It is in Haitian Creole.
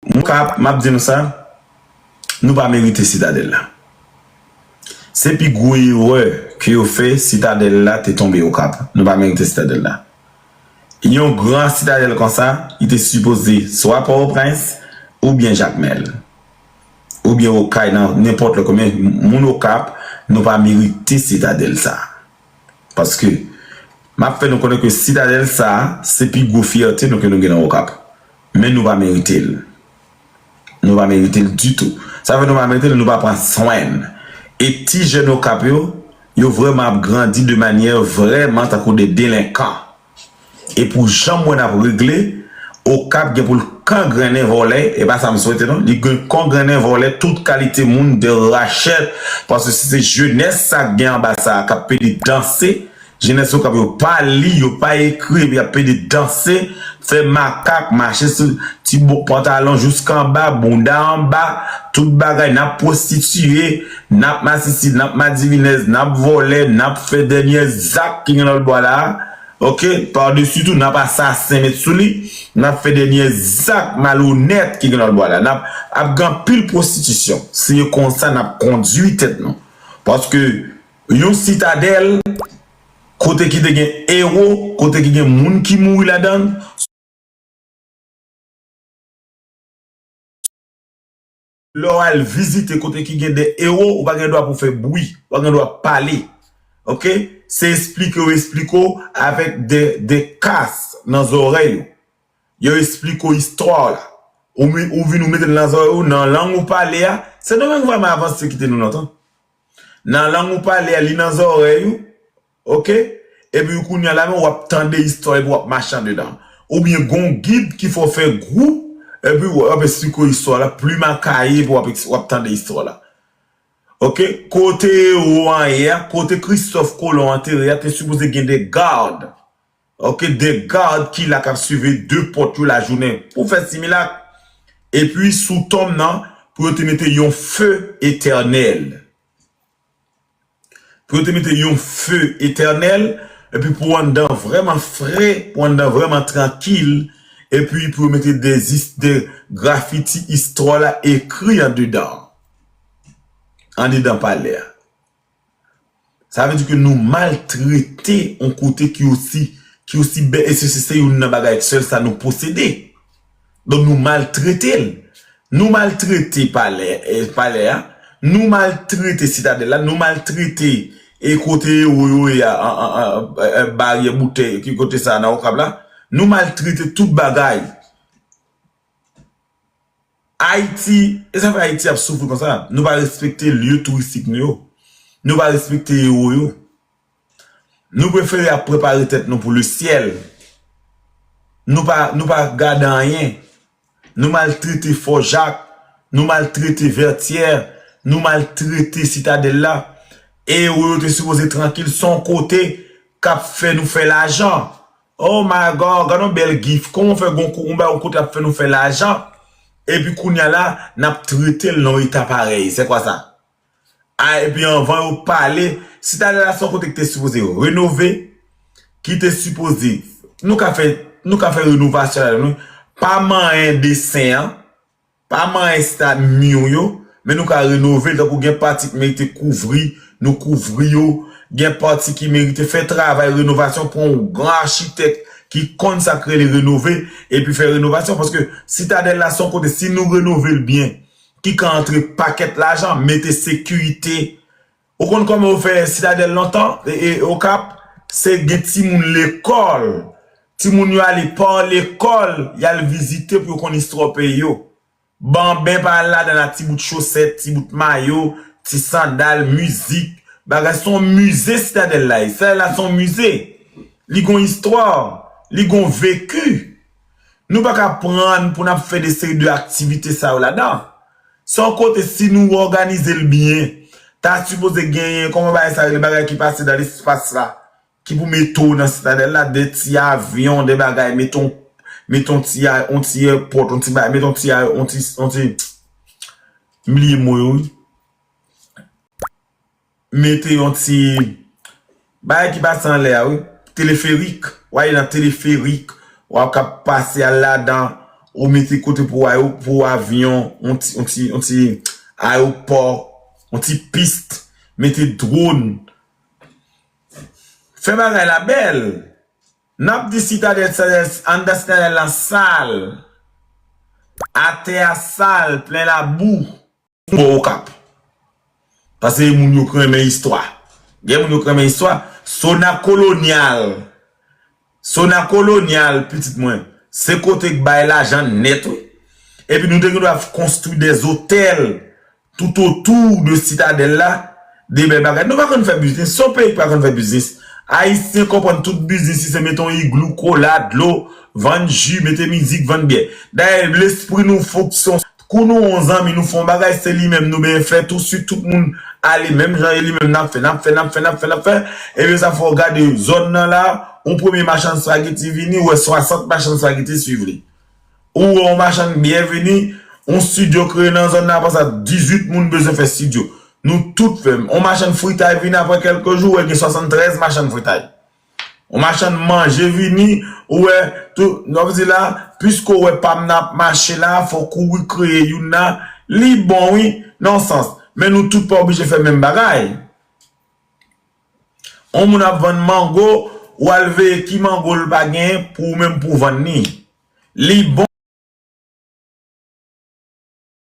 Mwen ka ap, map di nou sa, nou pa merite Sitadèl la. Se pi gwo erè ke yo fè, Sitadèl la te tonbe Okap. Nou pa merite Sitadèl la. Yon gran Sitadèl konsa, li te sipoze swa Pòtoprens, oubyen Jakmèl. Oubyen Okay nan nenpòt lòt kote. Men, moun Okap, nou pa merite Sitadèl sa. Paske, map fè nou konnen ke Sitadèl sa, se pi gwo fyète nou ke nou gen nan Okap. Men nou pa merite l. Nou pa merite l ditou. Sa fè nou pa merite l, nou pa pran swen l. E ti jèn Okap yo, yo vrèman ap grandi de manyè vrèman tankou de delenkan. E pou jan m wè n ap regle, Okap gen pou l kangrennen vòlè, e pa sa m swete non, li gen kongrennen vòlè tout kalite moun, de rachèt, paske se jenès sa k gen anba sa a k ap pede danse Jenès Okap yo pa li, yo pa ekri epi yap pede danse, fè makak, mache sou ti bo pantalon jouskanba, bounda anba, tout bagay, nap pwostitiye, nap masisi, nap madivinèz, nap vòlè, nap fè dènyè zak ki gen lòlbwa la a, ok, padesi tou nap asasen met sou li, nap fè dènyè zak malonèt ki gen lòlbwa la, nap ap gen anpil pwostitisyon, se konsa nap kondui tèt nou, paske. Yon sitadèl kote ki te gen ewo, kote ki gen moun ki mouri ladan l. Lè w al vizite kote ki gen de ewo, ou pa gen dwa pou fè bwi, ou pa gen dwa pale. Ok, se esplike yo esplike w avèk de kas nan zòrèy ou. Yo esplike w istwa w la. Ou vin ou mete l nan zòrèy ou, nan lang ou pale a. Sendomeng vrèman avanse kite nou lontan. Nan lang ou pale a li nan zòrèy ou ok epi kounya la men wap tande istwa epi wap mache andedan oubyen gon gid ki fè w fè gwoup epi wap esplike istwa la plim a kaye epi wap tande istwa la ok kote ewo an ye a kote kristòf kolon antere a te sipoze gen de gad Ok 2 gad ki la kap swive 2 pòt yo lajounen pou fè similak epi sou tonm nan pou yo te mete yon fe etènèl pou yo te mete yon fe etènèl epi pou anndan vrèman fre pou anndan vrèman trankil epi pou yo mete de zis de grafiti istwa la ekri andedan andedan palè a. Sa vle di ke nou maltrete yon kote ki osi, ki osi bèl, e se se youn nan bagay sèl sa nou posede. Donk nou maltrete l. Nou maltrete palè, palè a, nou maltrete sitadèl la, nou maltrete e kote ewo yo ye a, baryè boutèy, ki kote sa a nan Okap la, nou maltrete tout bagay. Ayiti, e sa fè Ayiti ap soufri konsa? Nou pa respekte lye touristik nou yo. Nou pa respekte ewo yo. Nou prefere ap prepare tèt nou pou lesyèl. Nou pa, nou pa gade anyen. Nou maltrete Fò Jak, nou maltrete Vètyè, nou maltrete Sitadèl la. Ewo yo te sipoze trankil, son kote kap fè nou fè lajan. Oh my God gad yon bèl gif kòman fè gon yon bagay yon kote ap fè nou fè lajan epi kounya la nap tretel nan yon eta parèy se kwa sa ah epi anvan yo pale sitadèl la se yon kote ki te sipoze renove ki te sipoze nou ka fè nou ka fè renovasyon ladann wi pa manyen desen an. Pa man esta mur yo, men nou ka renove l tankou gen pati k merite kouvri, nou kouvri yo, gen pati ki merite fè travay renovasyon pran yon gran achitek ki konn sa k rele renove epi fè renovasyon paske sitadèl la son kote si nou renove l byen ki ka antre pakèt lajan mete sekirite Ou konn koman yo fè sitadèl lontan e okap se gen timoun lekòl timoun yo ale pa lekòl yal vizite pou yo konn istwa peyi yo banben pa al ladann a ti bout chosèt ti bout mayo ti sandal mizik bagay son mize sitadèl la ye sitadèl la son mize li gon istwa li gon veki. Nou pa ka prann pou n ap fè de seri de aktivite sa yo ladan. San konte si nou òganize l byen, ta sipoze genyen, kòman bagay sa rele, bagay ki pase nan lespas la, ki pou mete w nan sitadèl la, de ti avyon, de bagay, mete w, mete yon ti a, yon ti èpòt, yon ti bagay, mete yon ti a, yon ti, yon ti, m bliye mo yo wi. Mete yon ti Bagay ki pase anlè a wi Teleferik Ou ale nan teleferik Ou ap kab pase al ladan Ou mete kote pou pou avyon Yon ti yon ti yon ti Ayopò Yon ti pist Mete dwon Fè bagay la bèl N ap di sitadèl sitadèl Anndan sitadèl la sal Atè a sal Plen labou. Bò Okap. Pase moun yo k renmen istwa. Gen moun yo k renmen istwa. Sona Kolonyal. Sona Kolonyal, pitit mwen, se kote k bay lajan nèt wi. Epi nou te gen dwa konstwi de zotèl toutotou de sitadèl la. De bèl bagay. Nou pa konn fè biznis. Se yon peyi k pa konn fè biznis. Ayisyen konprann tout biznis li se mete yon iglou, kola, dlo, vann ji, mete mizik, vann byè. Dayè lespri nou fonksyone. Kou nou on zanmi nou fon bagay se li menm nou benyen fè tou si tout moun ale menm jan e li menm nap fè nap fè nap fè nap fè nap fè ebyen sa fè w gade zòn nan la on premye machann spageti vini ou wè 60 machann spageti swiv li ou wè on machann byè vini on studio kreye nan zòn nan apre sa 18 moun bezwen fè studio nou tout fè on machann fritay vini apre kèlke jou ou wè gen 73 machann fritay On machann manje vini ou wè tou non vdi la puiske ou wè pam nan ap mache la fòk ou rekreye youn nan li bon wi nan yon sans men nou tout pa oblije fè menm bagay on moun ap vann mango ou al veye ki mango l pa gen pou ou menm pou vann li li bon.